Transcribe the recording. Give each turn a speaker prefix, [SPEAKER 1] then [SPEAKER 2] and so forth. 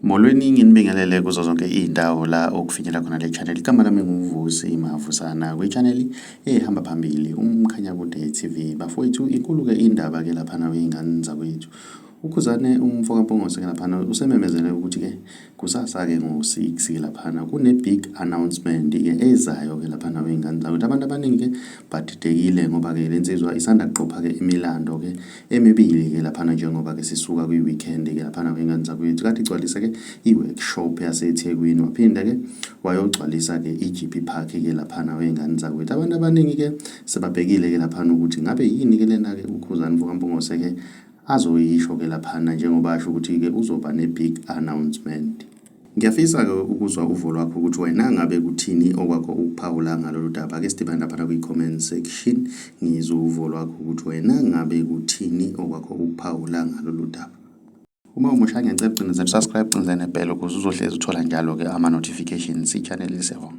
[SPEAKER 1] Molweni nginibingelele kuzo zonke iy'ndawo la okufinyela khona le channel igama lami nguvusi mahafusana kwi-channel ehamba phambili umkhanyakude TV bafowethu inkulu-ke indaba-ke laphana wey'ngane zakwethu UKhuzane umfo kaMpungose ke laphana usememezele ukuthi ke kusasa ke ngo-6 ke laphana kune-big announcement ke ezayo ke laphana wey'ngane zakwethu abantu abaningi ke badidekile ngoba ke le nsizwa isanda kuqopha ke imilando ke emibili ke laphana njengoba ke sisuka kwi-weekend ke laphana wey'ngane zakwethu kade igcwalise ke i-workshop yasethekwini waphinde ke wayogcwalisa ke i-gp park ke laphana wey'ngane zakwethu abantu abaningi ke sebabhekile ke laphana ukuthi ngabe yini ke lena ke ukhuzane mfo kampungose ke Azoyisho ke laphana njengoba asho ukuthi ke uzoba ne big announcement. Ngiyafisa ke ukuzwa uvo lwakho ukuthi wena ngabe kuthini okwakho ukuphawula ngalolu daba ake sidibane laphana kwi comment section ngizwe uvo lwakho ukuthi wena ngabe kuthini okwakho ukuphawula ngalolu daba. Uma umusha ngiyacela ucinezela subscribe cinezela nebhelo ukuze uzohlezi uthola njalo ke ama notifications i channel isevoma.